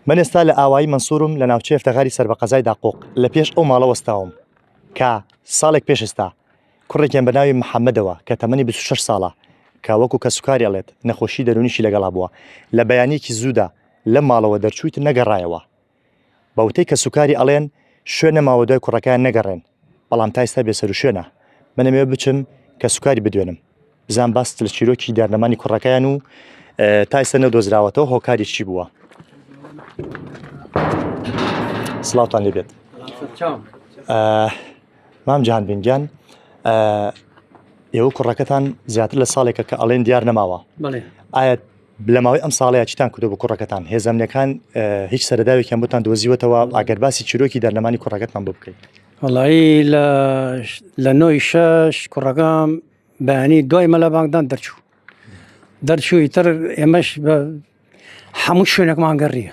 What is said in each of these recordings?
من ئێستا لە ئاوایی مەنسورم لە ناوچەی ئەفتەغاری سەر بە قەزای داقوق لە پێش ئەو ماڵە وەستاوم کە ساڵێک پێش ئێستا کوڕێکیان بە ناوی محەممەدەوە کە تەمەنی 26 ساڵە کە وەکو کەسوکاری ئەڵێت نەخۆشی دەرونیشی لەگەڵا بووە لە بەیانیەکی زوودا لە ماڵەوە دەرچوویت نەگەڕایەوە بە وتەی کەسوکاری ئەڵێن شوێن نەماوە دوای کوڕەکەیان نەگەڕێن بەڵام تا ئێستا بێسەروشوێنە. من ئەمەوێ بچم کە سوکاری بدوێنم. بزان باست لە چیرۆکی دارنەمانی کوڕەکەیان و تا ئێستا نەدۆزراوەتەوە هۆکاری چی بووە. سلااوان لێبێت. مام جان بنگیان ئێوە کوڕەکەتان زیاتر لە ساڵێکە کە ئەڵێن دیار نەماوە ئایا لە ماوەی ئەم ساڵەیە چیتان کردو بۆ کوڕەکەتان هێزەمنەکان هیچ سەرداوێکیان بۆتان دۆزیوەتەوە ئەگەر باسی چیرۆکی دەرلەمانی کوڕەکەتان بۆ بکەیت وڵایی لە لە نۆی شەش کوڕەکەم بەیانی دوای مەلا بانگدان دەرچوو دەرچووی تر ئێمەش بە هەموو شوێنێکمان گەڕیە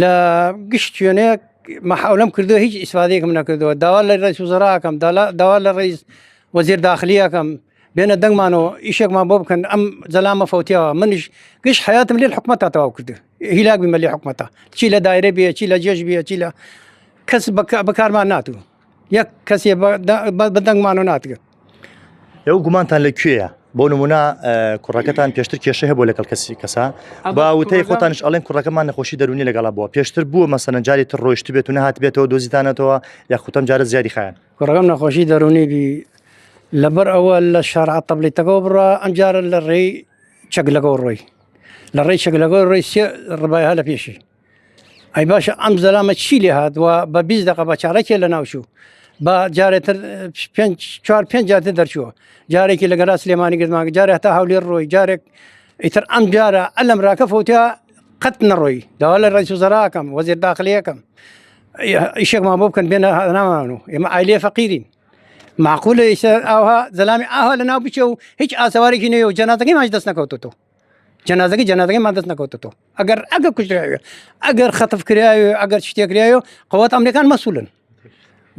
لە گشت شوێنەیەک مەحاولم کردو هیچ ئیسفادێکم نەکردەوە داوا لە ڕێز وزراکەم داوا لە ڕێز وەزیر داخلیەکەم بێنە دەنگمانەوە ئیشێکمان بۆ بکەن ئەم زەلامە فوتیەوە منیش گشت حیاتم لێ حکومە تا تەواو کرد هیلاک بمە لێ حکومەتە چی لە دایرە بێ چی لە جێژ بێ چی لە کەس بەکارمان ناتوو یەک کەسێ بەدەنگمانە ناتگرت ئەو گومانتان لە کوێە بۆ نمونە کوڕەکەتان پێشتر کێشە هەبوو لەگەڵ کەسی کەسا با وتەی خۆتانش ئەڵێن کوڕەکەمان نەخۆشی دەرونی لەگەڵا بووە پێشتر بووە مەسەنە جاری تر ڕۆشت بێت و نهات بێتەوە دۆزیتانەتەوە یاخوتم جارە زیادی خیان کوڕەکەم نەخۆشی دەرونی بی لەبەر ئەوە لە شارع تەبلیتەکەەوە بڕە ئەمجارە لە ڕێی چەک لەگەڵ ڕۆی لە ڕێی چەک لەگەڵ ڕێی ڕبایها لە پێشی ئەی باشە ئەم زەلامە چی لێ هاتووە بە بیست دقە بە چارەکێ لە ناوچوو بە جارێتر چوار پێنج جاتە دەرچووە جارێکی لە گەرا سلێمانی گردمان جارێ هەتا هەولێر ڕۆی جارێک ئیتر ئەم جارە ئەلم راکە فوتیا قەت نەڕۆی داوا لە ڕێی سوزەراکەم وەزیر داخلیەکەم ئیشێکمان بۆ بکەن بێنە نامان و ئێمە ئایلێ فەقیرین معقولە ئیسە ئاها زەلامی ئاها لە ناو بچێ و هیچ ئاسەوارێکی نوێ و جەناتەکەی ماش دەست نەکەوتەوە جەنازەکە جەنازەکەی ما دەست نەکەوتەوە ئەگەر ئەگە کوژراوێ ئەگەر خەتف کراوێ ئەگەر شتێکراوێ قوت ئەمریکان مەسولن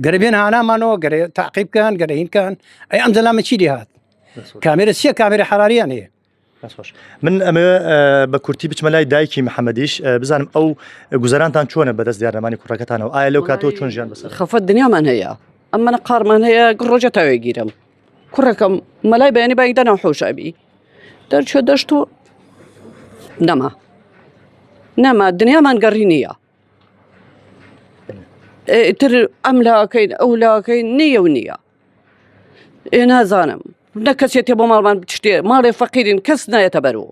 گەربێن هانامانەوە گەرێ تاقیبکەن گەرەینکەن ئەی ئەم زەلامە چی لێ هاات کامێرە سیە کامێرە حراریان هەیە خۆش من ئەمە بە کورتی بچمە لای دایکی محەممەدیش بزانم ئەو گوزارانتان چۆنە بەدەست دیارەمانی کوڕەکەتانەوە ئایا لەو کاتەوە چۆن ژیان بەسەر خەفەت دنیامان هەیە ئەم منە قارمان هەیە ڕۆژە تاوێگیرم کوڕەکەم مەلای بەیانی بای دەنا حۆشابی دەرچوە دەشت و نەما نەما دنیامان گەڕی نییە تر ئەم لاکەین ئەو لاکەی نییە و نییە ئێ نازانم نە کەسێتێ بۆ ماڵمان شتێ ماڵێ فەقیرین کەس نایەتە بەرەوە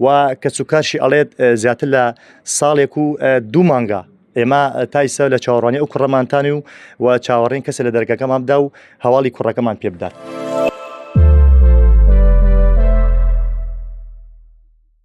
و کەس و کارشی ئەڵێت زیاتر لە ساڵێک و دوو مانگە ئێمە تایسە لە چاوەڕانی ئەو کوڕەمانتانی و و چاوەڕین کەسە لە دەرگەکەمان بدا و هەواڵی کوڕەکەمان پێ بدات.